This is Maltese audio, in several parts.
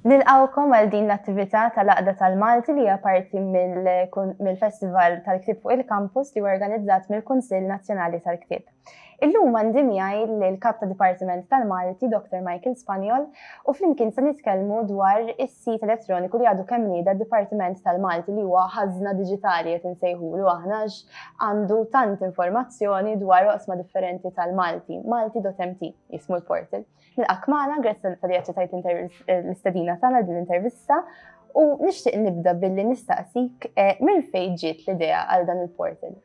Nilqawkom għal din l-attività tal-Aqda tal-Malti li hija parti mill-Festival tal-Ktib fuq il-Kampus li organizzat mill-Kunsill Nazzjonali tal-Ktib. Illum għandi miegħi l-Kap ta' Dipartiment tal-Malti, Dr. Michael Spanjol, u flimkien se nitkellmu dwar is sit elettroniku li għadu kemm nieda d-Dipartiment tal-Malti li huwa ħażna diġitali qed insejħulu aħna għax għandu tant informazzjoni dwar oqsma differenti tal-Malti. Malti.mt jismu l-portal. Nilqak magħna, grazzi tal li aċċettajt l-istedina tagħna din l-intervista u nixtieq nibda billi nistaqsik eh, minn fejn ġiet l-idea għal dan il-portal.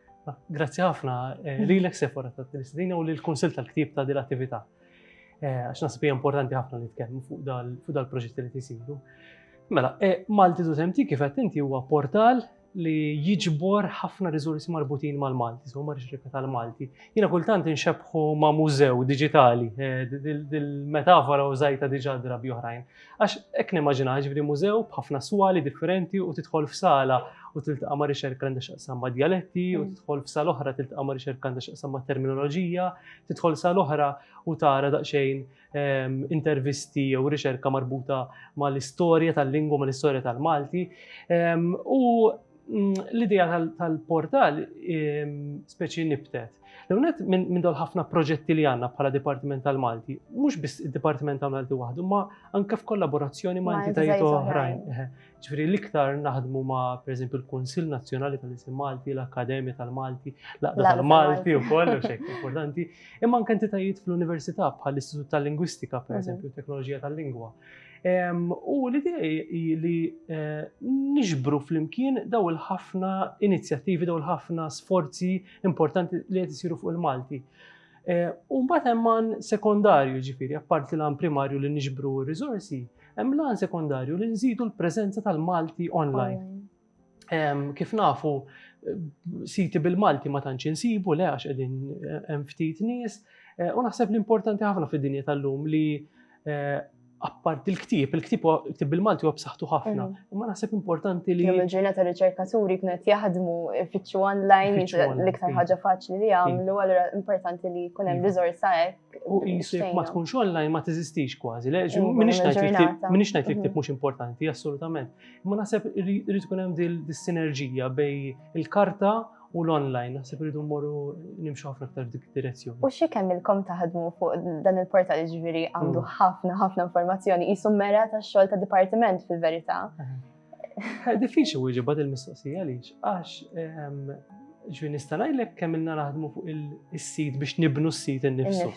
Grazzi ħafna eh, li l-ek sefora ta' Kristina u li l-Konsil tal-Ktib ta' dil-attività. Eh, għax nasib hija importanti ħafna li tkellmu fuq dal-proġetti li tisiru. Mela, eh, Malti tu temti kif qed inti huwa portal li jiġbor ħafna riżorsi marbutin mal-Malti, so marriġ rikka tal-Malti. Jina kultant inxebħu ma' mużew digitali, eh, dil-metafora u zajta diġa drabi oħrajn. Għax hekk nimmaġinaha, jiġifieri mużew b'ħafna swali differenti u tidħol f'sala u tiltaqa' ma' riċerka għandha x'taqsam ma' djaletti u mm. tidħol f'sala oħra tiltaqa' ma' riċerka għandha x'taqsam ma' terminoloġija, tidħol sala oħra u tara daqsxejn ehm, intervisti jew riċerka marbuta mal-istorja tal-lingwa, mal-istorja tal-Malti. Ehm, u L-idea tal-portal speċi nibtet. L-għunet minn dol ħafna proġetti li għanna bħala Dipartiment tal-Malti, mux biss il-Dipartiment tal-Malti waħdu, ma anka f'kollaborazzjoni ma' entitajiet oħrajn. Ġifri l-iktar naħdmu ma' per eżempju l-Konsil Nazzjonali tal-Isim Malti, l-Akkademja tal-Malti, l-Aqda tal-Malti u koll, u xejk importanti, imma anka entitajiet fl-Università bħal-Istitut tal-Lingwistika, per eżempju, teknoloġija tal-lingwa. U l-idea hi li niġbru flimkien daw il-ħafna inizjattivi, daw il-ħafna sforzi importanti li qed isiru fuq il-Malti. U mbagħad hemm għan sekondarju ġifieri, apparti l-għan primarju li niġbru r-riżorsi, hemm l-għan sekondarju li nżidu l-preżenza tal-Malti online. Kif nafu, siti bil-Malti ma tantx insibu le għax qegħdin hemm ftit nies. Eh, u naħseb li importanti ħafna fid-dinja tal-lum li eh, appart il-ktib, il-ktib ktib bil-Malti huwa b'saħħtu ħafna. Mm. Imma naħseb importanti li. Kemm il-ġurnata riċerkaturi kienu qed jaħdmu ifittxu online l-iktar ħaġa faċli li jagħmlu, allura importanti li jkun hemm riżorsa hekk. U jisib ma tkunx online ma teżistix kważi. Minix ngħid li ktib mhux importanti, assolutament. Imma naħseb irid ikun hemm dis-sinerġija bej il-karta u l-online, naħseb irridu mmorru nimxu ħafna aktar dik direzzjoni. U xi kemm ilkom taħdmu fuq dan il-portal ġifieri għandu mm. ħafna ħafna informazzjoni qisu mera tax-xogħol ta' dipartiment fil-verità. Eh, diffiċli wieġeb bad il-mistoqsija għaliex għax ehm, ġwi nista' ngħidlek kemm ilna naħdmu fuq il-sit biex nibnu s-sit innifsu.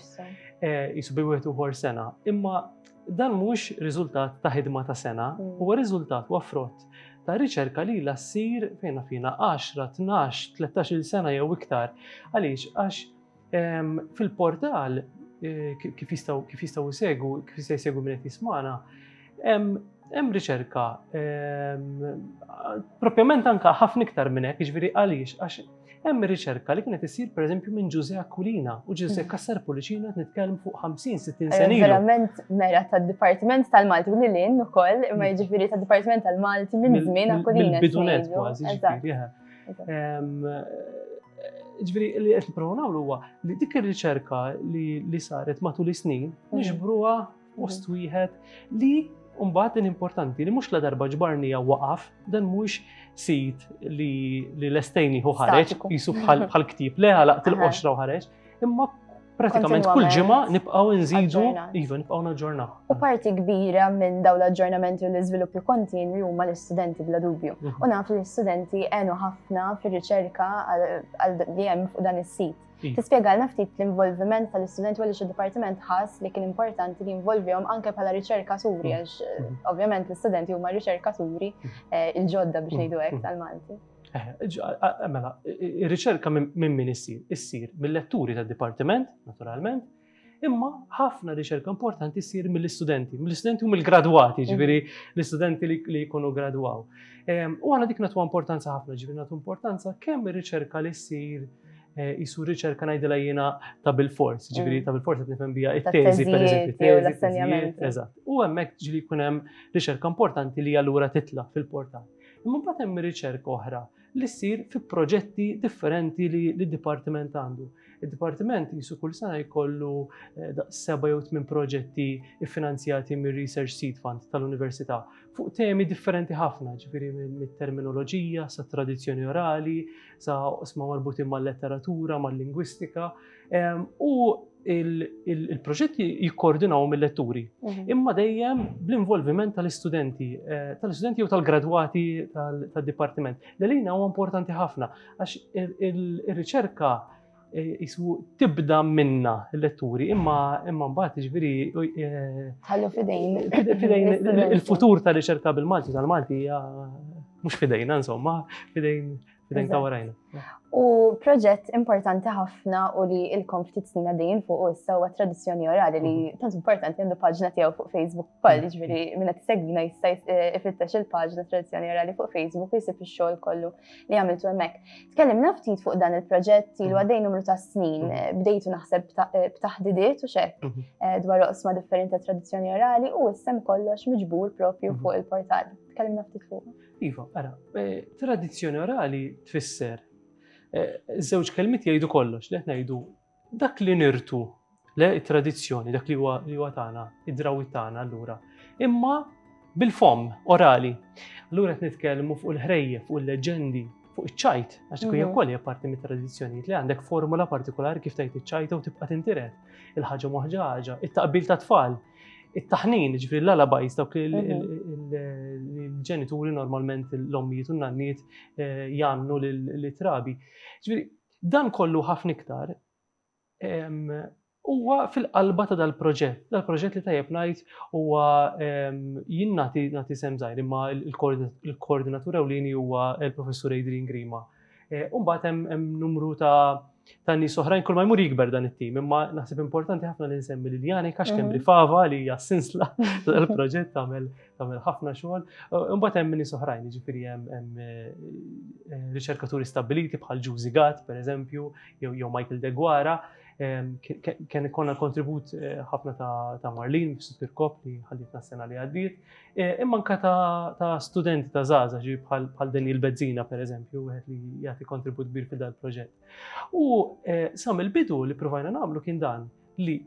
Jisu eh, bi wieħed uħor sena. Imma Dan mhuwiex riżultat ta' ħidma ta' sena, huwa riżultat huwa frott ta' riċerka li la ssir fejna fina 10, 12, 13-il sena jew iktar. Għaliex? Għax ehm, fil-portal eh, kif jistgħu kif jistgħu jsegu, kif jistgħu jsegu minn qed jismana, hemm riċerka ehm, propjament anka ħafna iktar minn hekk, jiġifieri għaliex għax Hemm riċerka li kienet issir pereżempju minn Ġużè Aquilina u Ġużè Cassar Pullicino qed nitkellmu fuq 50-60 sena. Verament mera tad-Dipartiment tal-Malti u lil hinn ukoll, imma mm. jiġifieri tad-Dipartiment tal-Malti minn żmien Aquilina. Bidunet kważi, ġifieri. Ġifieri li qed nipprovaw nagħmlu huwa li dik ir-riċerka li saret matul is-snin mm. niġbruha Post wieħed li Umbat din importanti li mhux la darba ġbarni jew waqaf, dan mhux sit li l-estejni hu ħareġ, jisu bħal ktib, le għalaqt il-qoxra u ħareġ, imma pratikament kull ġimgħa nibqgħu nżidu iva nibqgħu naġġornaw. U parti kbira minn dawn l-aġġornamenti u l-iżviluppi kontinwi huma l-istudenti bla dubju. Mhm. U naf li l-istudenti għenu ħafna fir-riċerka għal li hemm fuq dan is-sit. Tispjegalna ftit l-involviment tal-istudenti u għaliex id-dipartiment ħass li kien importanti li jinvolvihom anke bħala riċerkaturi mm. għax eh, mm. ovvjament l-istudenti huma riċerkaturi mm. eh, il-ġodda biex ngħidu hekk tal-Malti. Eh, mela, ir-riċerka minn min issir? Issir mill-letturi tad-dipartiment, naturalment, Imma ħafna riċerka importanti ssir mill-istudenti, mill-istudenti u mill-gradwati, mm. ġifieri l-istudenti li jkunu gradwaw. Ehm, u għana dik natu importanza ħafna, ġifieri natu importanza kemm ir-riċerka li ssir Eh, jisu riċerka najdila jena ta' bil-fors, mm. ġiviri ta' bil-fors għet nifem bija it-teżi, per eżempju, l-assenjament. Eżat. U għemmek ġili kunem riċerka importanti li għallura titla fil-portal. Imma batem riċerka oħra li ssir fi proġetti differenti li d-Dipartiment għandu. Id-Dipartiment jisu kull sena jkollu eh, seba' jew tmien proġetti finanzjati mir Research Seed Fund tal-Università fuq temi differenti ħafna, ġifieri mit-terminoloġija, sa tradizzjoni orali, sa osma marbutin mal-letteratura, mal-lingwistika. U il-proġetti jikkoordinaw mill-letturi, mhm. imma dejjem bl-involviment tal-istudenti, eh, tal-istudenti jew tal-gradwati tal-dipartiment. L-lina huwa importanti ħafna, għax il-riċerka eh, jisu tibda minna l-letturi, imma imma mbagħad ġifieri eh, ħallu fidejn. Fidejn il-futur tal-riċerka bil-Malti tal-Malti mhux fidejna insomma, fidejn Fidejn ta' warajna. U proġett importanti ħafna u li il-kom ftit snina dejjin fuq u issa huwa tradizzjoni orali li mhm. tant importanti għandu paġna tiegħu fuq Facebook ukoll, mhm. ġifieri minna tisegwina jista' eh, ifittex il-paġna tradizzjoni orali fuq Facebook jisib ix-xogħol kollu li għamiltu hemmhekk. Tkellimna ftit fuq dan il-proġett li mhm. għaddej numru ta' snin, eh, bdejtu naħseb eh, b'taħdidiet u xek dwar oqsma differenti tradizzjoni orali u issem kollox miġbur propju fuq il-portal. Tkellimna ftit fuq. Iva, ara, eh, tradizzjoni orali tfisser. Eh, żewġ kelmiet jgħidu kollox, li qed ngħidu dak li nirtu le tradizzjoni, dak li huwa li huwa tagħna, id-drawi tagħna allura. Imma bil-fom orali. Allura qed nitkellmu fuq il-ħrejje, fuq il-leġendi, fuq iċ-ċajt, għax tkun mhm. kolli parti mit tradizzjonijiet li għandek formula partikolari kif tajt iċ-ċajta u tibqa' tintiret. Il-ħaġa moħġa ħaġa, it-taqbil ta' tfal, it-taħnin, ġifri l-alabajs, dawk il-ġenituri normalment l-ommijiet u n-nanniet eh, jannu l-trabi. Ġifri, dan kollu ħafna iktar huwa fil-qalba ta' dal-proġett. Dal-proġett li tajjeb ngħid huwa jien nagħti sem żgħir imma l-koordinatur ewlieni huwa l-Professur Adrian Grima. U mbagħad hemm numru ta' nies oħrajn kull ma jmur jikber dan it-tim, imma naħseb importanti ħafna li nsemmi lil Jani għax kemm mhm. fava li hija sinsla tal-proġett tagħmel tagħmel ħafna xogħol. Imbagħad hemm nies oħrajn, jiġifieri hemm eh, eh, riċerkaturi stabiliti bħal Ġużi Gatt, pereżempju, jew Michael Degwara, kien ikonna kontribut eh, ħafna ta' Marlin fis-Sukir Kop li ħallit s-sena li għaddiet. Eh, imma anka ta' studenti ta' zaza ġi bħal Daniel Bezzina per eżempju, wieħed li jagħti kontribut kbir fil proġett. U eh, sam il-bidu li provajna nagħmlu kien dan li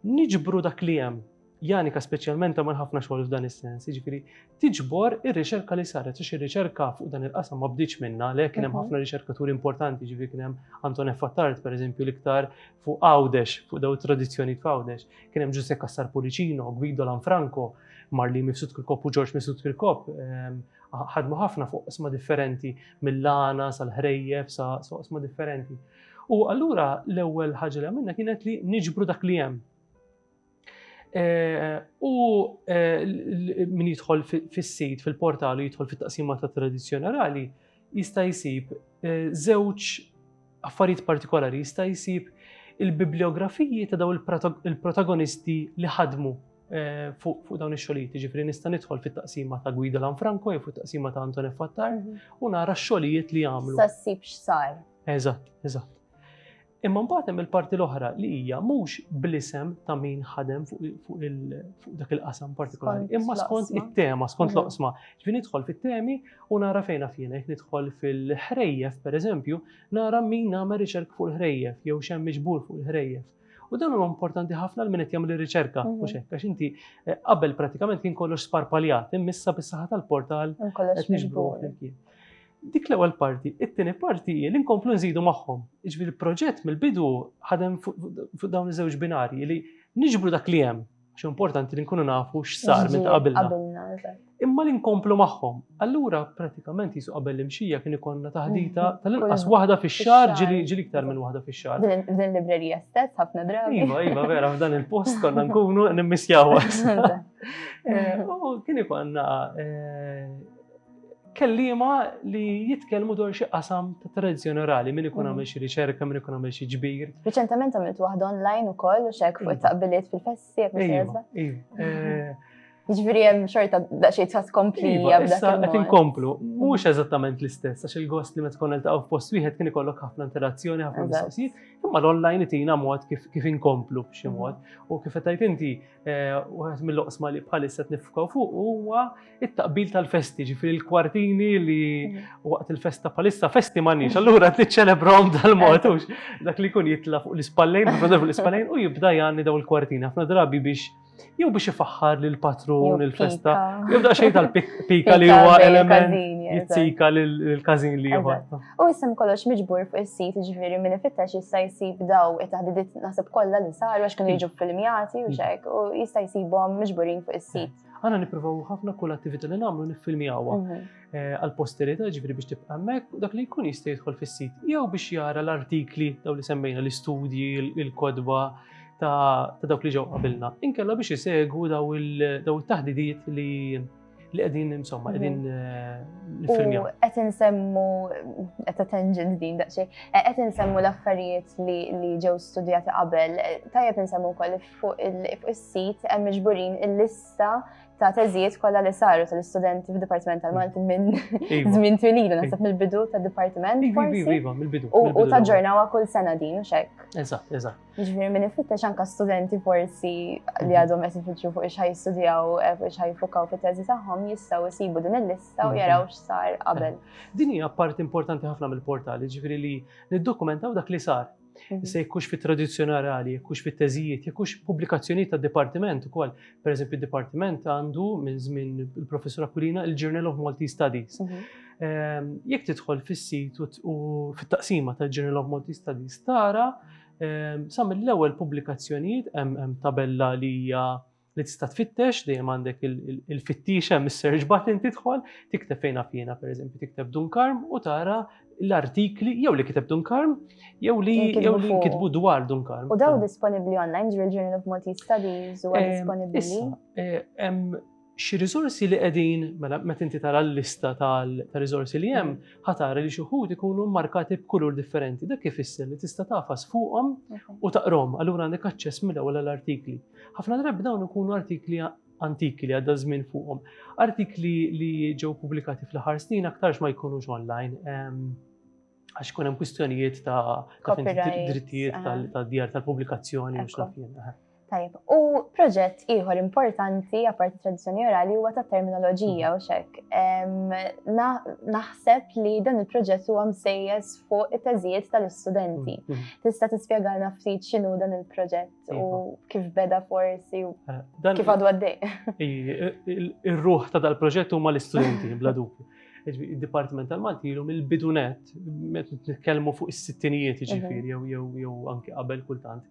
niġbru dak li hemm Janika speċjalment għamel ħafna xogħol f'dan is-sens, jiġifieri tiġbor ir-riċerka li saret, għax ir-riċerka fuq dan il-qasam ma bdiċ minna, le kien hemm mhm. ħafna riċerkaturi importanti, ġifieri kien hemm Anton F. Attard pereżempju l-iktar fuq Għawdex, fuq daw it-tradizzjonijiet f'Għawdex, kien hemm Ġuse Kassar Pulicino, Guido Lanfranco, Marli Mifsud Kirkop u Ġorġ Mifsud Kirkop, ehm, ħadmu ħafna fuq qisma differenti, mill-lana, sal-ħrejjef, sa' qisma differenti. U allura l-ewwel ħaġa li għamilna kienet li niġbru dak li hemm. U min jidħol fis-sit, fil-portal u jidħol fit-taqsima ta' tradizzjoni orali, jista' jsib żewġ affarijiet partikolari, jista' jsib il-bibliografiji ta' daw il-protagonisti li ħadmu eh, fuq dawn ix-xogħlijiet. Ġifieri nista' nidħol fit-taqsima ta' Guido Lanfranco jew fit-taqsima ta' Anton Fattar mhm. u nara x-xogħlijiet li għamlu. Sa ssib x'sar. Eżatt, eżatt. Imma mbagħad hemm il-parti l-oħra li hija mhux bl-isem ta' min ħadem fuq dak il-qasam partikolari, imma skont it-tema, skont mm. l-oqsma. Ġifieri nidħol fit-temi u nara fejn fjena, jekk nidħol fil-ħrejjef pereżempju, nara min nagħmel riċerk fuq il-ħrejjef jew xemm miġbur fuq il-ħrejjef. U dan huwa importanti ħafna l-min qed jagħmel ir-riċerka, mhm. mhux hekk għax inti eh, qabel pratikament kien kollox sparpaljat, immissa bis-saħħa tal-portal qed niġbru flimkien. Dik l-ewwel parti. It-tieni parti hi li nkomplu nżidu magħhom. Jiġifieri l-proġett mill-bidu ħadem fuq dawn iż-żewġ binarji li niġbru dak li hemm għax importanti li nkunu nafu x'sar minn ta' qabilna. Imma li nkomplu magħhom. Allura pratikament jisu qabel l-imxija kien ikonna taħdita mm-hmm. tal-inqas waħda fix-xahar ġili iktar minn waħda fix-xahar. Din librerija stess ħafna drabi. Iva, iva, vera f'dan il-post konna nkunu nimmisjaw. Eh, u kien ikonna eh, Kelliema li jitkellmu dwar xi qasam ta' tradizzjoni orali, min ikun għamel xi riċerka, min ikun għamel xi ġbir. Riċentament għamilt waħda online ukoll u xek fuq it-taqbiliet fil-festi jekk mhux iva, iva. Eh, Ġifieri hemm xorta daqsxejn ta' tkompli iva, issa qed inkomplu. Mhux eżattament l-istess għax il-gost li meta tkun iltaqgħu f'post wieħed kien ikollok ħafna interazzjoni, ħafna mistoqsijiet, imma l-online itina mod kif inkomplu b'xi mod. U kif qed inti Eh, Waħed mill-oqsma li bħalissa qed nifkaw fuq huwa it-taqbil tal-festi, ġifri l-kwartini li mm. waqt il-festa bħalissa festi m'għandniex, allura qed niċċelebrom dal-mod dak li jkun jitla' fuq l-ispallejn, fuq l-ispallejn u jibda jgħanni daw il-kwartini ħafna drabi biex jew biex ifaħħar lil patrun il-festa, jew daqsxejn tal-pika li huwa element jizzika lill-każin li ieħor. U jisem kollox miġbur fuq is-sit, ġifieri min ifittex jista' jsib daw it-taħdidiet naħseb kollha li saru għax kienu jiġu filmjati u xek u jista' jsibhom miġburin fuq is-sit. Għana nippruvaw ħafna kull attività li nagħmlu niffilmjawha mhm. eh, għal posterità ġifieri biex tibqa' hemmhekk u dak li jkun jista' jidħol fis-sit jew biex jara l-artikli daw li semmejna l-istudji, il-kodba ta' dawk li ġew qabilna. Inkella biex isegwu daw il-taħdidiet li li qegħdin insomma qegħdin mhm. eh, nifilmjaw. Qed insemmu qed tangent din daqsxejn, eh, qed insemmu l-affarijiet li ġew studjati qabel, eh, tajjeb insemmu wkoll fuq is-sit hemm miġburin il-lista ta' teżijiet kollha li saru tal-istudenti fid-Dipartiment tal-Malti minn iva. żmien twililu naħseb mill-bidu tad-dipartiment. Iva, iva, iva, mill-bidu. U taġġornawha kull sena din u xek. Eżatt, eżatt. Ġifieri min ifittex anke studenti forsi li mhm. għadhom qed ifittxu fuq ix jistudjaw eh, fuq ix jiffukaw fit-teżi tagħhom jistgħu jsibu din il-lista u mhm. jaraw x'sar qabel. Din hija parti importanti ħafna mill-portal, ġifieri li niddokumentaw dak li sar. Mhm. Se jkux fit tradizzjoni orali, jkux fit teżijiet, jkux pubblikazzjonijiet ta' dipartiment ukoll. Per eżempju, dipartiment għandu minn żmien il-professur Aquilina il-Journal of Multi Studies. Ehm, jekk tidħol fis-sit u fit-taqsima tal-Journal of Multi Studies tara Ehm, sa mill-ewwel pubblikazzjonijiet hemm tabella li hija li tista' tfittex dejjem għandek il-fittix hemm is-search button tidħol, tikteb fejn per pereżempju tikteb Dunkarm u tara l-artikli jew li kiteb Dunkarm jew li jew li kitbu dwar Dunkarm. U daw disponibbli online ġril Journal of Maltese Studies huwa ehm, disponibbli. Eh, Xi riżorsi li qegħdin, mela meta inti tara l-lista tar-riżorsi li hemm, ħa tara li xi wħud ikunu mmarkati b'kulur differenti. Dak ifisser li tista' tagħfas fuqhom u taqrahom, allura għandek aċċess mill-ewwel għall-artikli. Ħafna drabi dawn ikunu artikli antiki li għadda żmien fuqhom. Artikli li ġew pubblikati fl-aħħar snin aktarx ma jkunux online. għax kunem kwistjonijiet ta' drittijiet tal-djar tal-publikazzjoni u xlafjen. Tajib, u proġett ieħor importanti għapart tradizjoni orali huwa ta' terminoloġija u xek. Naħseb li dan il-proġett huwa msejjes fuq it-teżijiet tal-istudenti. Mm, mm. Tista' tispjegalna ftit x'inhu dan il-proġett u iva. kif beda forsi u eh, kif għadu għaddej. Ir-ruħ ta' dal-proġett huma l-istudenti bla dubju. Id-Dipartiment tal-Malti ilu mill-bidu net, meta nitkellmu fuq is-sittinijiet ġifieri jew anke qabel kultant,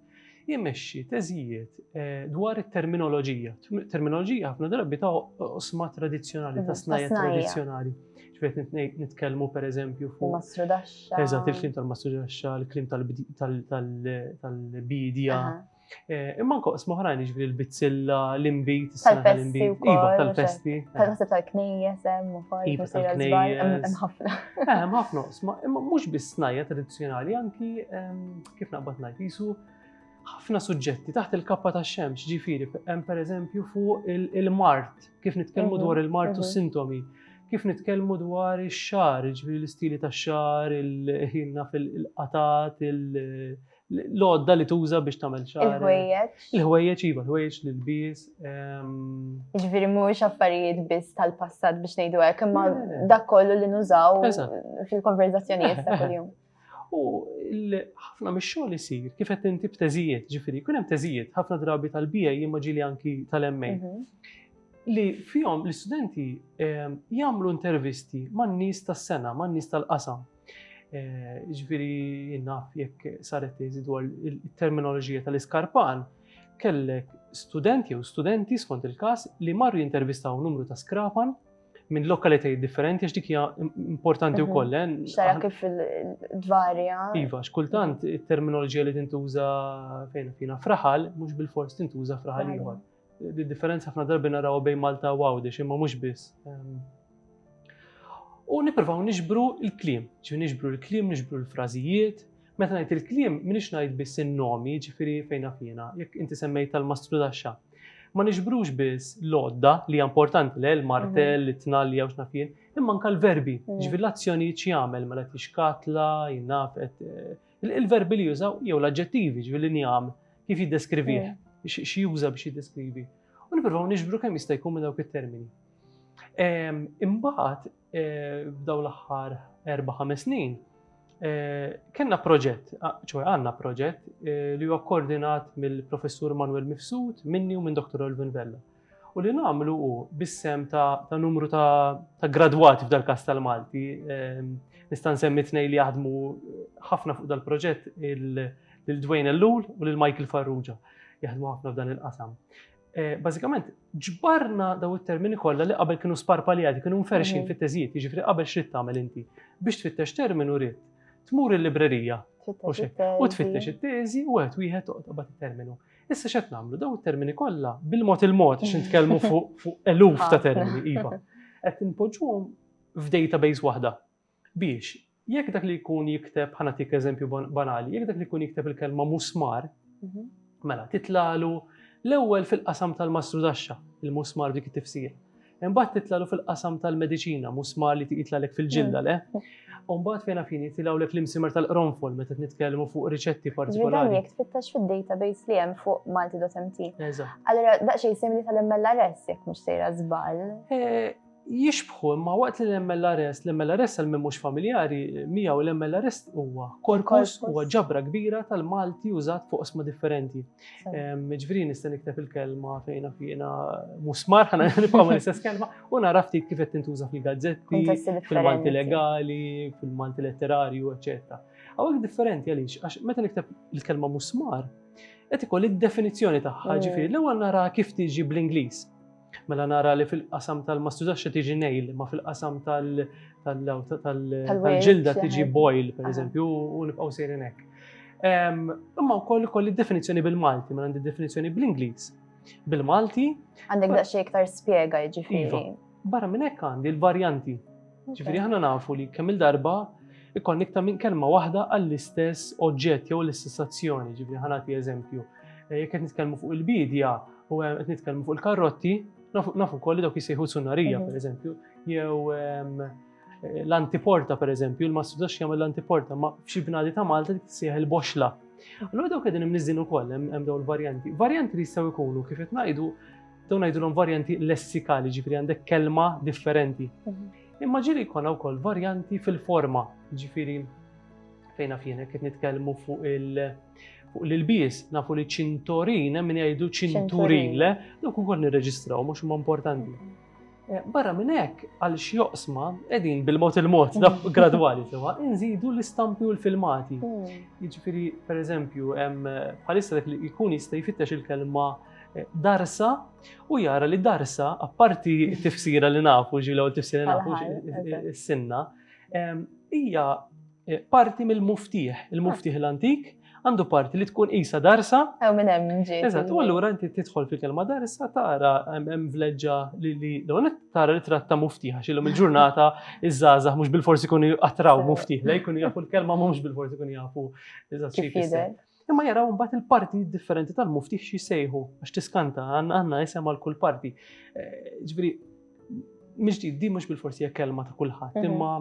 jimexxi teżijiet eh, dwar it-terminoloġija. Terminoloġija ħafna drabi ta' osma tradizzjonali, ta' mhm, snajja tradizzjonali. Ġifiet nitkellmu per eżempju fuq. Mastrudaxxa. Eżatt, il-klim tal-mastrudaxxa, il-klim tal-bidja. Eh, imma anka qosma oħrajn jiġri l-bizzilla, l-imbit, tal-festi u Iva, tal-festi. Tal-festi eh. tal-knejjes, hemm ukoll. Iva, tal-knejjes. Hemm ħafna. Eh, hemm ħafna qosma, imma mhux biss snajja tradizzjonali, anki ehm, kif naqbad ngħid jisu ħafna suġġetti taħt il-kappa ta' xemx, ġifiri, hemm pereżempju fuq il-mart, kif nitkellmu mhm, dwar il-mart u mhm. sintomi, kif nitkellmu dwar ix-xar, ġifiri l-istili ta' xar, il-ħinna fil-qatat, il-, -il l-għodda li tuża biex tagħmel xar. Il-ħwejjeġ. Il-ħwejjeġ iva, l-ħwejjeġ li lbies. Ehm, Ġifieri mhuwiex affarijiet biss tal-passat biex ngħidu hekk, imma dak kollu li nużaw fil-konverzazzjonijiet ta' kuljum. U ħafna mix-xogħol isir kif qed inti b'teżijiet, ġifieri jkun hemm teżijiet ħafna drabi tal-bija jimma ġieli anki tal-MA mhm. li fihom l-istudenti ehm, jagħmlu intervisti man-nies tas-sena, man-nies tal-qasam. Eh, ġviri naf jekk saret teżi dwar il-terminoloġija tal-iskarpan, kellek studenti jew studenti skont il-kas li marru jintervistaw numru ta' skrapan minn lokalitajiet differenti għax dik hija importanti mhm. wkoll. Eh? Xara kif dvarja. Iva, x'kultant it-terminoloġija li tintuża fejn fina fraħal mhux bil-fors tintuża fraħal ieħor. Di differenza ħafna darbi naraw bejn Malta u Għawdex imma mhux biss. Ehm, u nippruvaw niġbru l-kliem, ġifi niġbru l-kliem, niġbru l-frażijiet. Meta ngħid il-kliem minix ngħid biss in-nomi, ġifieri fejn fina, jekk inti semmejt tal-mastru daxxa. Ma niġbrux biss l-odda li hija importanti le l-martell, mhm. it-tnalli jew x'nafien, imma anke l-verbi, mhm. ġifieri l-azzjonijiet x'jagħmel mela tixkatla, jinaf qed eh, Il-verbi li jużaw jew l-aġġettivi ġifieri l-injam kif jiddeskrivih, xi juża biex jiddeskrivi. U nippruvaw niġbru kemm jista' jkun minn dawk it-termini. Ehm, imbagħad eh, f'daw l-aħħar erba' ħames snin Eh, kenna proġett, ċoħe għanna proġett eh, li huwa koordinat mill-professur Manuel Mifsud, minni u minn Dr. Olvin Vella. u li nagħmlu hu bis-sehem ta' numru ta' gradwati f'dal-każ tal-Malti. Ehm, nista' nsemmi tnejn li jaħdmu ħafna fuq dal-proġett lil Dwayne Ellul u lil Michael Farrugia. Jaħdmu ħafna f'dan il-qasam. Eh, bażikament, ġbarna daw it-termini kollha li qabel kienu sparpaljati, kienu mferxin mhm. fit-teżijiet, jiġifieri qabel xrid tagħmel inti biex tfittex terminu rrid tmur il-librerija u tfittex it-teżi u għet wieħed toqgħod qabad terminu Issa x'qed nagħmlu daw it-termini kollha bil-mod il-mod biex nitkellmu fuq eluf ta' termini iva. Qed inpoġġuhom f'database waħda biex jekk dak li jkun jikteb ħanatik eżempju banali, jekk dak li jkun jikteb il-kelma musmar, mhm. mela titlalu l-ewwel fil-qasam tal-mastru daxxa, il-musmar dik it-tifsir. Imbagħad titlalgħu fil-qasam tal-mediċina, musmar li jitlalek fil-ġilda, le? U mbagħad fejn għafini jitilgħulek l-imsimer tal-qronfol meta nitkellmu fuq riċetti partikolari. Ġvidani, tfittax fil-database li hemm fuq malti.mt. Allora, daqxej simili tal-MLRS, jek mux sejra zbal. Eh, jixbħu, imma waqt li l-MLRS, l-MLRS għal mux familjari, miegħu l-MLRS huwa korpus huwa ġabra kbira tal-Malti użat fuq osma differenti. Ġviri nista' nikteb il-kelma fejna fiena musmar, ħana nibqa' ma nistess kelma, u nara ftit kif qed tintuża fil-gazzetti, fil-Malti legali, fil-Malti letterarju, eċetera. Għawek differenti għaliex, għax meta nikteb il-kelma musmar, qed ikoll id-definizzjoni tagħha, mm. ġifieri l-ewwel nara kif tiġi bl-Ingliż. Mela nara li fil-qasam tal-ma stużax tiġi nail, ma fil-qasam tal-ġilda tiġi boil, per eżempju, u nibqaw sejrin hekk. Imma wkoll kolli definizzjoni bil-Malti, mela għandi definizzjoni bl-Ingliż. Bil-Malti. Għandek daqsxejn iktar spjega jiġifieri. Iva. Barra minn hekk għandi l-varjanti Ġifieri aħna nafu li kemm il-darba ikon iktar minn kelma waħda għall-istess oġġett jew l-istess azzjoni. Ġifieri ħanati eżempju. Eh, jekk qed nitkellmu fuq il-bidja u eh, qed nitkellmu fuq il-karrotti, nafu wkoll li dawk jisejħu sunarija, mhm. pereżempju, jew ehm, eh, l-antiporta, pereżempju, il-mastru dax jagħmel l-antiporta, ma f'xi bnadi ta' Malta tisejħ il-boxla. Allura dawk qegħdin imniżin ukoll hemm dawn il-varjanti. Varjanti li jistgħu jkunu kif qed ngħidu Dawn ngħidulhom varjanti lessikali, ġifieri għandek kelma differenti. Mhm. Imma ġieli jkollna wkoll varjanti fil-forma, ġifieri fejna fjena qed nitkellmu fuq il- fuq l-ilbies, nafu li ċintorin, minn jgħidu ċinturin, le, dawk ukoll nirreġistraw, mhux huma importanti. Mhm. Barra minn hekk, għal xi oqsma qegħdin bil-mod il-mod gradwali sewa inżidu l-istampi u l-filmati. Jiġifieri, pereżempju, bħalissa dak li jkun jista' jfittex il-kelma eh, darsa u jara li darsa, apparti t-tifsira li nafu, ġilu u tifsira li nafu s-sinna, hija eh, parti mill-muftiħ, il-muftiħ l-antik, għandu parti li tkun qisha darsa. Ew minn hemm ġiet. Eżatt, u allura inti tidħol fil-kelma darsa tara hemm vleġġa li li dawn tara li tratta muftiħa xilhom il-ġurnata iż-żgħażagħ mhux bil-forsi jkunu attraw muftiħ lej jkunu jafu l-kelma mhux bil-forsi jkunu jafu eżatt xi jfisser. Imma jaraw mbagħad il-parti differenti tal-muftiħ xi jsejħu għax tiskanta għandna isem għal kull parti. Eh, ġifieri, mhix di mhux bil-forsi hija kelma ta' kulħadd, mhm. imma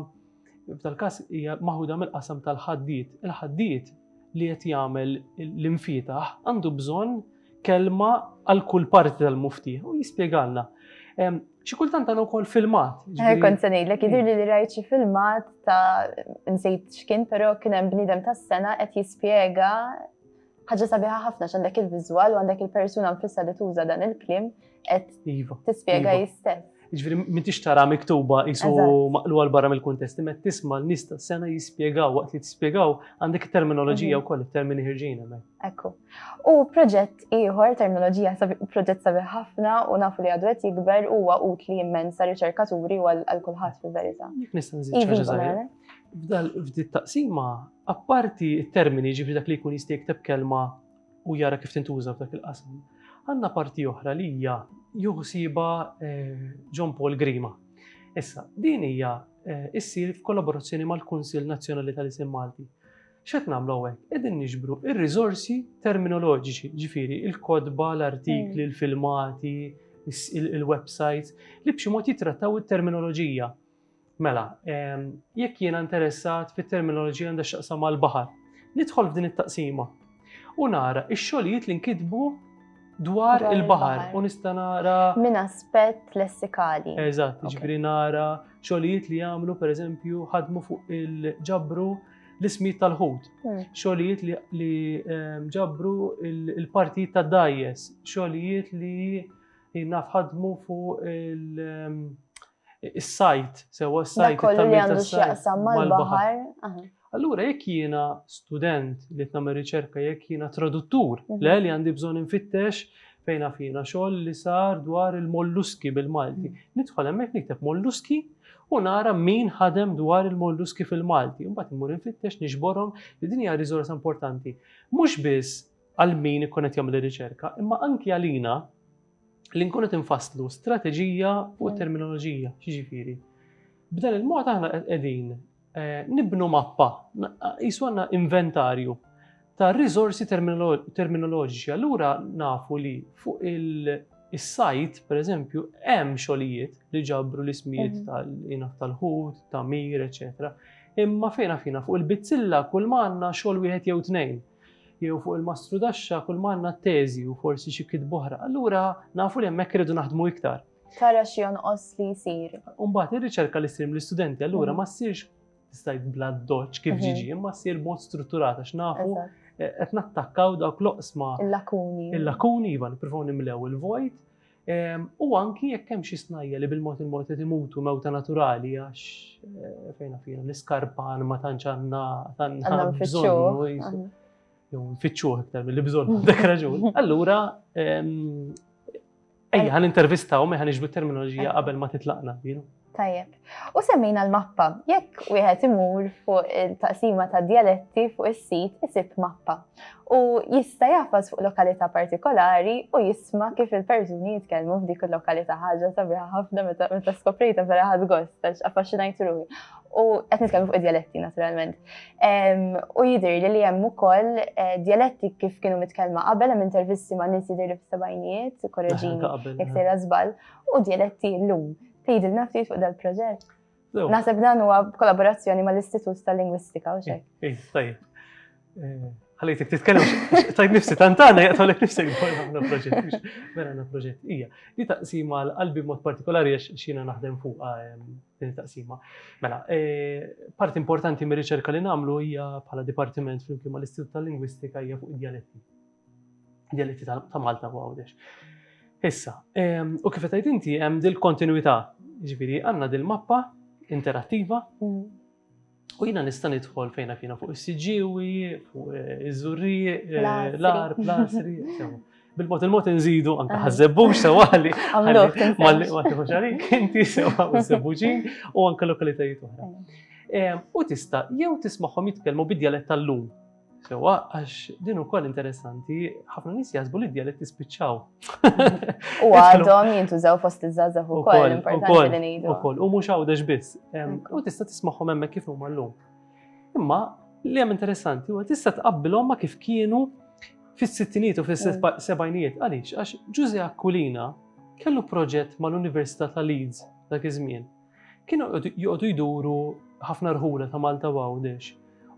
F'dal każ hija maħuda mill-qasam tal-ħaddied. Il-ħaddied li qed jagħmel l-infietaħ għandu bżonn kelma għal kull parti tal-mufti u jispjegalna. Xi kultant għandna wkoll filmat. Kont se ngħidlek jidhir li rajt xi filmat ta' nsejt x'kien, però kien hemm bniedem tas-sena qed jispjega Ħaġa sabiħa ħafna x'għandek il-viżwal u għandek il-persuna nfissa li tuża dan il-klim qed iva, tispjega iva. jistess. Ġifieri m'intix tara miktuba isu maqlu għal barra mill-kuntest, imma tisma' l-nista sena jispjegaw waqt li tispjegaw għandek terminoloġija mhm. wkoll termini ħirġin hemmhekk. Ekku. U proġett ieħor terminoloġija proġett sabiħ ħafna u nafu li għadwet jikber huwa utli immens sa riċerkaturi u għal kulħadd fil-verità. Jekk nista' nżid F'dal f'dit taqsima Apparti t-termini, jiġifieri dak li jkun jista' jikteb kelma u jara kif tintuża f'dak il-qasam, għandna parti oħra li hija jieħu ħsiebha John Paul Grima. Issa, din hija issir f'kollaborazzjoni mal-Kunsill Nazzjonali tal-Isem Malti. X'qed nagħmlu hawnhekk? Qegħdin niġbru r-riżorsi terminoloġiċi, ġifieri il-kotba, l-artikli, il-filmati, il-websites li b'xi mod jittrattaw it-terminoloġija. Mela, jekk jiena interessat fit-terminoloġija għandha x'taqsam mal-baħar, nidħol f'din it-taqsima u nara x-xogħlijiet li nkitbu dwar il-baħar u nista' nara. Minn aspett lessikali. Eżatt, ġifieri nara xogħlijiet li jagħmlu pereżempju ħadmu fuq il-ġabru l-ismijiet tal-ħut, hmm. xogħlijiet li ehm, ġabru il-partijiet ta' dajes, xogħlijiet li nafħadmu fuq il- ehm, Is-sajt, sewa s-sajt. Kollu li għandu x'jaqsam mal-baħar. Allura jekk jiena student li qed nagħmel riċerka jekk jiena traduttur, mhm. le li għandi bżonn infittex fejn fina xogħol li sar dwar il-molluski bil-Malti. Mhm. Nidħol hemmhekk nikteb molluski u nara min ħadem dwar il-molluski fil-Malti. Mbagħad immur infittex nixborhom li din hija riżorsa importanti. Mhux biss għal min ikun qed jagħmel ir-riċerka, imma anki għalina li nkunu tinfasslu strateġija fuq mm. terminoloġija, xiġifieri. B'dan il-mod aħna qegħdin eh, nibnu mappa, jisu għandna inventarju ta' riżorsi terminoloġiċi. Allura nafu li fuq il-sajt, per eżempju, hemm xogħlijiet li ġabru l-ismijiet mhm. tal-ħut, ta' mir, eċetera. Imma fejna fina fuq il-bizzilla kull manna xogħol wieħed jew tnejn. jew fuq il-mastrudaxxa kulma għandna t-teżi u forsi xi kitba oħra, allura nafu li hemmhekk irridu naħdmu iktar. Tara xi jonqos li jsir. Imbagħad ir-riċerka li ssir mill-istudenti allura mm. ma ssirx tista' bla doċ kif mhm. ġiġi, imma ssir mod strutturat għax nafu eh, qed nattakkaw dawk l-oqsma. Il-lakuni. Il-lakuni iva nippruvaw nimlew il-vojt U anki jekk hemm xi snajja li bil-mod il-mod qed imutu mewta naturali għax fejn naf jiena l-iskarpan ma tantx għandna għandna bżonn jew nfittxuh iktar milli bżonn dak raġun. Allura ejja ħan intervistaw me ħan iġbdu terminoloġija qabel ma titlaqna. Tajjeb. U semmejna l-mappa. Jekk wieħed imur fuq il-taqsima ta' dialetti fuq is-sit isib mappa. U jista' jafas fuq lokalità partikolari u jisma' kif il-persuni jitkellmu f'dik il-lokalità ħaġa sabiħa ħafna meta skoprejta vera ħadd gost għax affaxxinajt ruħi. U qed nitkellmu fuq id-dialetti naturalment. U jidher li li hemm ukoll eh, dialetti kif kienu mitkellma qabel hemm intervisti ma' nies jidher li f'sebgħinijiet, korreġini, jekk sejra żball, u dialetti llum. Tgħidilna ftit fuq dal-proġett. Naħseb dan huwa kollaborazzjoni mal-Istitut tal-Lingwistika u xejn. Eh, tajjeb. Eh, ħalejtek titkellem, tajt nifsi tantana, jaqtolek nifsi għamna proġett, vera għamna proġett. Ija, li taqsima l-qalbi mod partikolari għax xina naħdem fuq ehm, din taqsima. Mela, eh, part importanti mir riċerka li namlu hija bħala dipartiment flimkien mal-Istitut tal-Lingwistika hija fuq id-dialetti. dialetti ta' Malta u Għawdex. Issa, ehm, u kif qed inti hemm dil-kontinuità, ġifieri għandna dil-mappa interattiva mm. u jiena nista' nidħol fejna kienu fuq is-siġġiewi, fuq eh, iż-żurri, eh, l-ar, plasri, bil-mod il-mod nżidu anke ah. ħażebbux sewali. Malli ma tieħux għalik inti sewa u żebbuġin u anke lokalitajiet oħra. Ehm, u tista' jew tismagħhom jitkellmu bid-djalett tal-lum Sewa, għax din ukoll interessanti, ħafna nies jaħsbu li d-dialetti spiċċaw. U għadhom jintużaw fost iż-żgħażagħ ukoll, importanti li ngħidu. Ukoll, u mhux għawdex biss. U tista' tismagħhom hemmhekk kif huma llum. Imma li hemm interessanti huwa tista' tqabbilhom ma kif kienu fis-sittinijiet u fis-sebgħinijiet. Mm. Għaliex, għax Ġuże Aquilina kellu proġett mal-Università ta' Leeds dak iż-żmien. Kienu joqogħdu jduru ħafna rħula ta' Malta u Għawdex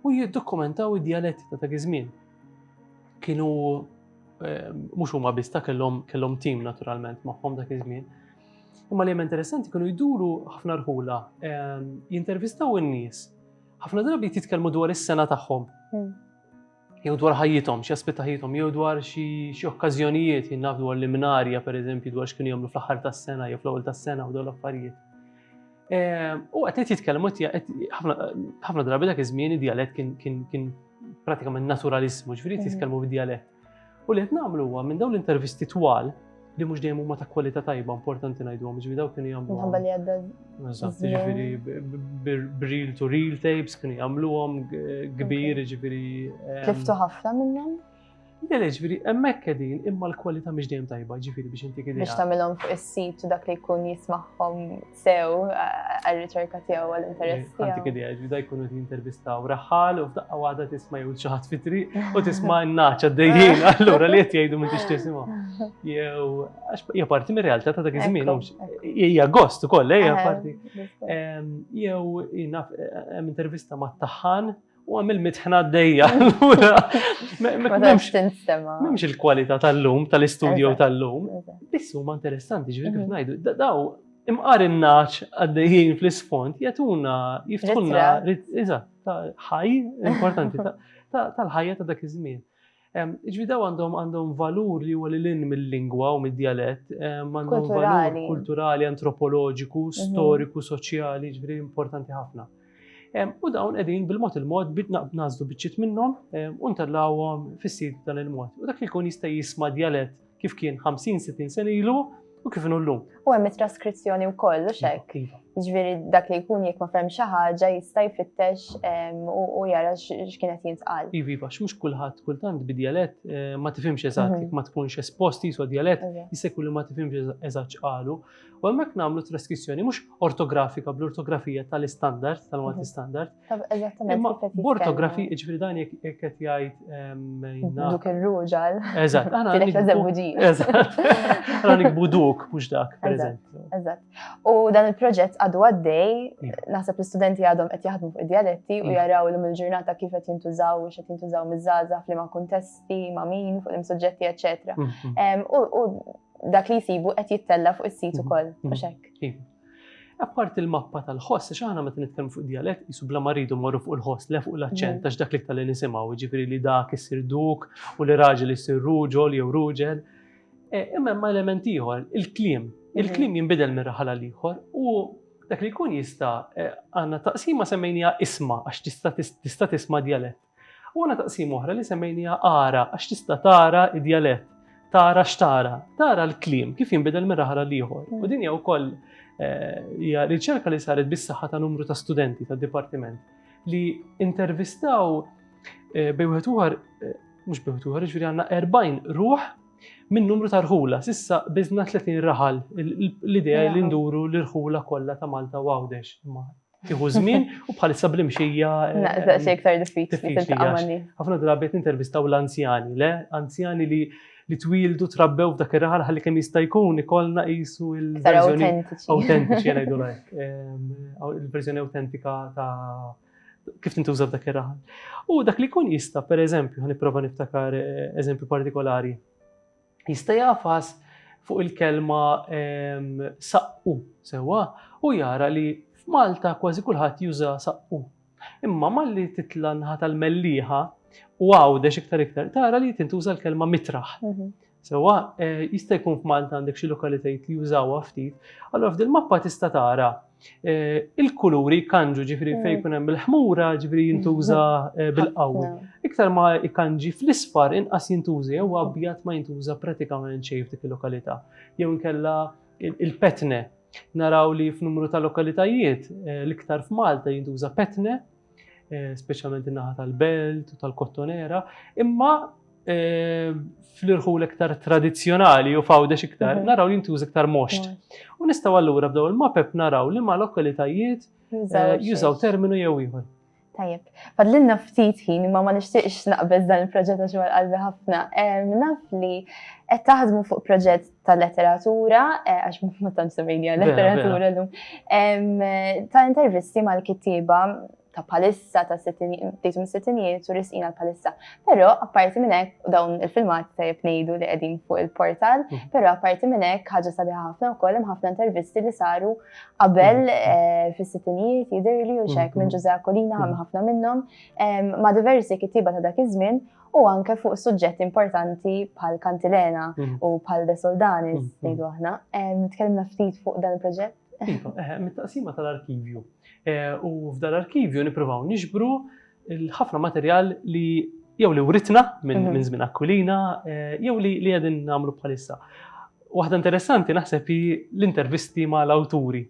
u jiddokumentaw id-djaletti ta' dak iż-żmien. Kienu ehm, mhux huma biss ta' kellhom kellhom tim naturalment magħhom dak iż-żmien. Imma li hemm interessanti kienu jduru ħafna rħula ehm, jintervistaw in-nies. Ħafna drabi titkellmu dwar is-sena tagħhom. Hmm. jew dwar ħajjithom, xi aspett ta' ħajjithom, jew dwar xi okkażjonijiet jien naf dwar l-imnarja pereżempju dwar x'kienu jagħmlu fl-aħħar tas-sena jew fl-ewwel tas-sena u dawn l-affarijiet. Ehm, u qed qed jitkellmu ħafna drabi dak iż-żmien id-djalett kien pratikament naturalismu, ġifieri jitkellmu bid-djalett. U li qed nagħmlu huwa minn dawn l-intervisti twal li mhux dejjem huma ta' kwalità tajba importanti ngħidhom, ġifieri dawk kienu jagħmlu. Minħabba li għadda. Eżatt, ġifieri bril to real tapes kienu jagħmluhom kbir, ġifieri. Tliftu ħafna minnhom? Le, le, ġifieri hemmhekk qegħdin imma l-kwalità mhix dejjem tajba, ġifieri biex inti kien. Biex tagħmilhom fuq is-sit u dak li jkun jismagħhom sew għal-riċerka tiegħu għal-interess tiegħu. Għantik idea, ġvida jkunu qed jintervistaw raħal u f'daqqa waħda tisma' jew xi ħadd fitri u tisma' n-naċ għaddejjin allura li qed jgħidu minn tix tisimgħu. Jew għax hija parti mir-realtà ta' dak iż-żmien hija gost ukoll hija parti. Jew hemm intervista ma' taħħan U għamil mitħna għaddejja. Memx il-kwalità tal-lum, tal-istudio tal-lum. Bissu ma interessanti, ġivir kif mhm. najdu. Daw, imqar il-naċ għaddejjien fl-isfond, jatuna, jiftħunna, iżat, ħaj, importanti, tal-ħajja ta' dak iż-żmien. Jiġifieri dawn għandhom għandhom valur li huwa lil hinn mill-lingwa u mid-djalett, għandhom valur kulturali, antropoloġiku, storiku, soċjali, jiġifieri importanti ħafna. U dawn qegħdin bil-mod il-mod bit nagħżlu biċċiet minnhom u ntellgħuhom fis-sit dan il-mod. U dak li jkun jista' jisma' djalett kif kien 50-60 sen ilu u kif inhu llum. U hemm it-traskrizzjoni wkoll u xek. Iva, iva. Ġifieri dak li jkun jekk ma fehem xi ħaġa jista' jfittex u jara x'kienet jintqal. Iva, iva, x'mhux kulħadd kultant bid-djalett eh, ma tifhimx eżatt, mhm. jekk ma tkunx espost jisu djalett, jista' jkun li ma tifhimx eżatt x'qalu. U hemmhekk nagħmlu traskrizzjoni mhux ortografika bl-ortografija tal-istandard, tal-Malti mhm. standard, Imma b'ortografi, ġifri dan jek qed jgħid Duk ir-ruġal. Eżatt, għana nikbu duk, mhux dak, pereżempju. Eżatt. U dan il-proġett għadu għaddej, naħseb l-istudenti għadhom qed jaħdmu fuq id-dialetti u jaraw l il-ġurnata kif qed jintużaw, u qed jintużaw miż-żaża f'liema kuntesti, ma' min, fuq l-imsuġġetti, eċetera. U dak li jsibu qed jittella fuq is-sit ukoll, mhux hekk. Apparti l-mappa tal-ħoss, għax aħna meta nitkellmu fuq dialett, jisu bla maridu morru fuq il-ħoss, le fuq l-aċċent, għax dak li tal nisimaw, ġifiri li dak issir duk u li raġel issir ruġol jew ruġel. E, imma ma element ieħor, il-klim. Il-klim jinbidel minn raħala l-ieħor u dak li jkun jista' e, għandna taqsima semmejnija isma għax tista' tisma' dialett. U għandna taqsima oħra li semmejniha ara għax tista' tara id-djalett, tara x'tara, tara l-kliem kif jinbidel minn raħal għal ieħor. U mm. din hija wkoll eh, hija riċerka li saret bis-saħħa ta' numru ta' studenti tad-dipartiment li intervistaw eh, bejwet uħar, eh, mux bejwet uħar, ġviri għanna 40 ruħ minn numru ta' rħula, sissa bizna 30 raħal, l-idea li nduru l-rħula kollha ta' Malta u Għawdex, ma Tieħu żmien u bħalissa bl-imxija. Eh, Naqsa xi iktar diffiċli tiltaqa' Ħafna drabi qed intervistaw l-anzjani, le? Anzjani li li twildu trabbew f'dak ir-raħal ħalli kemm jista' jkun ikollna qisu l-verżjoni autentiċi ngħidu lajk. Il-verżjoni autentika ta' kif tintuża f'dak ir-raħal. U dak li jkun jista' pereżempju ħa nipprova niftakar eh, eżempju partikolari. jista' jagħfas fuq il-kelma saqqu sewwa u jara li f'Malta kważi kulħadd juża saqqu. Imma malli titla' nħa tal-mellieħa u għawdex iktar iktar tara li tintuża l-kelma mitraħ. Mhm. Sewwa eh, jista' jkun f'Malta għandek xi lokalitajiet li jużawha ftit, allura f'dil mappa tista' tara il-kuluri jkanġu, ġifiri fej jkun hemm il-ħmura, ġifiri jintuża bil-qawwi. Iktar ma jkanġi fl-isfar inqas jintuża jew abjad ma jintuża pratikament xejn f'dik il-lokalità. Jew inkella il-petne. Naraw li f'numru ta' lokalitajiet l-iktar f'Malta jintuża petne eh, speċjalment in-naħa tal-belt u tal-kottonera, imma eh, fl-irħul iktar tradizzjonali u fawdex iktar, mhm. naraw li jintuż iktar moxt. U nistaw allura b'daw il-mapep naraw li ma lokalitajiet eh, jużaw terminu jew ieħor. Tajjeb, fadlinna ftit ħin imma ma nixtieqx naqbeż dan il-proġett għax għal qalbi ħafna. Naf li qed taħdmu fuq proġett ta' letteratura, eh, għax ma tant semminja letteratura l-lum, ta' intervisti mal-kittiba ta' palissa ta' tejtum sittinijiet u risqina l-palissa. Pero apparti minnek dawn il-filmat ta' jibnejdu li għedin fuq il-portal, mm. pero apparti minnek ħagġa sabiħa ħafna u kollem ħafna intervisti li saru qabel mm. eh, fis sittinijiet jidir li uxek mm, minn ġuża kolina għam ħafna minnom ma' diversi kittiba ta' dak iż-żmien u anke fuq suġġetti importanti bħal Kantilena mhm. u bħal De Soldanis, mhm. ngħidu aħna. Tkellimna ftit fuq dan il-proġett. Iva, eh, mit-taqsima tal-arkivju. Eh, u f'dan l-arkivju nippruvaw nixbru l-ħafna materjal li jew li writna minn mhm. żmien Aquilina, eh, jew li qegħdin nagħmlu bħalissa. Waħda interessanti naħseb l-intervisti ma' l-awturi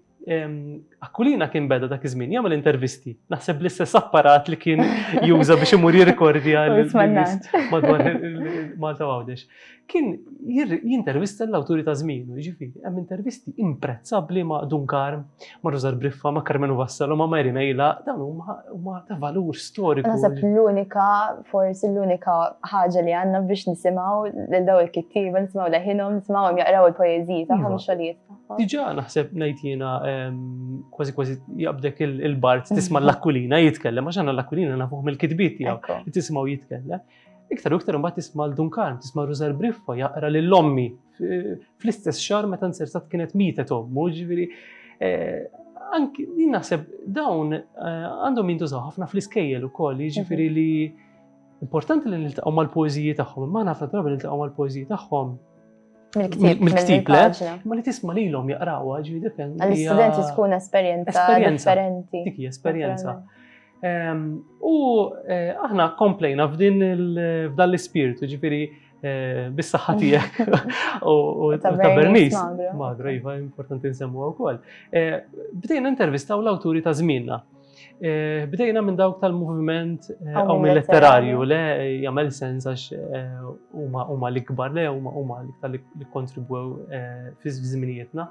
Aquilina kien beda dak iż-żmien jagħmel intervisti. Naħseb l-istess apparat li kien juża biex imur jirrikordja madwar Malta Għawdex. Kien jintervista l-awturi ta' żmienu, jiġifieri hemm intervisti imprezzabbli ma' Dunkar, ma' Rużar Briffa, ma' Carmenu Vassalo, ma' Mary Mejla, dawn huma ta' valur storiku. Naħseb l-unika, forsi l-unika ħaġa li għandna biex nisimgħu lil daw il-kittieba, nisimgħu leħinhom, nisimgħu jaqraw il-poeżiji tagħhom iva. xogħlijiet. Diġà naħseb ngħid jiena kważi kważi jaqbdek il-bart tisma' l-Aquilina jitkellem għax għandna l-Aquilina nafuh mill-kitbiet tiegħu li tismgħu jitkellem. Iktar u iktar imbagħad tisma' l Dunkan, tisma' Rużar Briffa jaqra lil ommi fl-istess xahar meta nsersat kienet mietet ommu, ġifieri eh, anki naħseb dawn eh, għandhom jintużaw ħafna fl-iskejjel ukoll, jiġifieri mhm. li importanti li niltaqgħu mal-poeżiji tagħhom, imma ħafna drabi niltaqgħu mal-poeżiji tagħhom Mill-ktib. Mill-ktib, le? Ma li tisma li l-om jaqrawa, ġi dipend. Għal-studenti tkun esperienza differenti. Dik esperienza. Ehm, u eh, aħna komplejna f'din f'dan l-ispirtu, ġifiri eh, bis-saħħa tiegħek u ta' Bernice. Magra, iva, importanti nsemmu wkoll. Eh, bdejna intervistaw l-awturi ta' żmienna. Eh, bdejna minn dawk tal-moviment eh, għaw minn letterarju, le jagħmel sens għax eh, huma l-ikbar, le huma l-iktar li kontribwew fi żminijietna.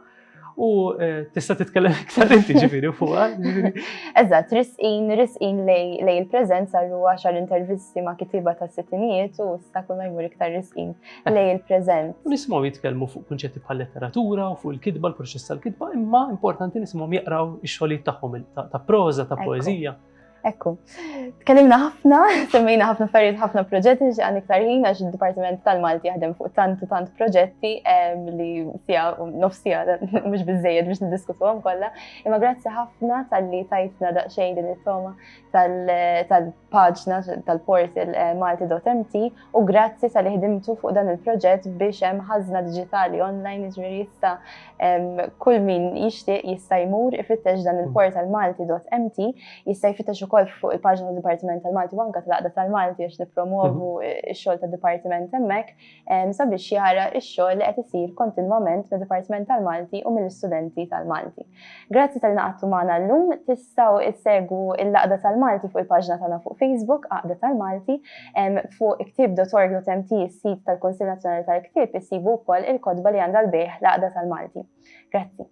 U tista' titkellem iktar inti ġifieri fuqha. Eżatt, risqin, risqin lej il-preżenza l għax għal intervisti ma' kitiba ta' sittinijiet u issa kull ma jmur iktar risqin lej il-preżent. U nisimgħu jitkellmu fuq kunċetti bħal letteratura u fuq il-kitba, l-proċess tal-kitba, imma importanti nisimgħu jaqraw ix-xogħlijiet tagħhom ta' proża, ta' poeżija. Ekku, tkellimna ħafna, semmejna ħafna affarijiet, ħafna proġetti li għan iktar ħin għax id-Dipartiment tal-Malti jaħdem fuq tant u tant proġetti li sija nofsija mhux biżejjed biex niddiskutuhom kollha. Imma grazzi ħafna tal-li tajtna daqsxejn din it-toma tal paġna tal-portal eh, malti.mt u grazzi tal ħdimtu fuq dan il-proġett biex hemm ħażna diġitali online iġri jista' kull min jixtieq jista' jmur ifittex dan il-portal malti.mt jista' jfittex ukoll fuq il-paġna tad-Dipartiment tal-Malti banka tal-Aqda tal-Malti biex nippromovu mhm. x-xogħol tad-Dipartiment hemmhekk sabiex jara x-xogħol li qed isir kontinwament mid-Dipartiment tal-Malti u mill-istudenti tal-Malti. Grazzi talli naqadtu magħna llum. Tistgħu issegwu l-Għaqda tal-Malti fuq il-paġna tagħna fuq Facebook, Għaqda tal-Malti. Fuq iktieb dot org dot MT, is-sit tal-Kunsill Nazzjonali tal-Ktieb, issibu wkoll il-kotba li għandha l-bejgħ l-Għaqda tal-Malti. Grazzi.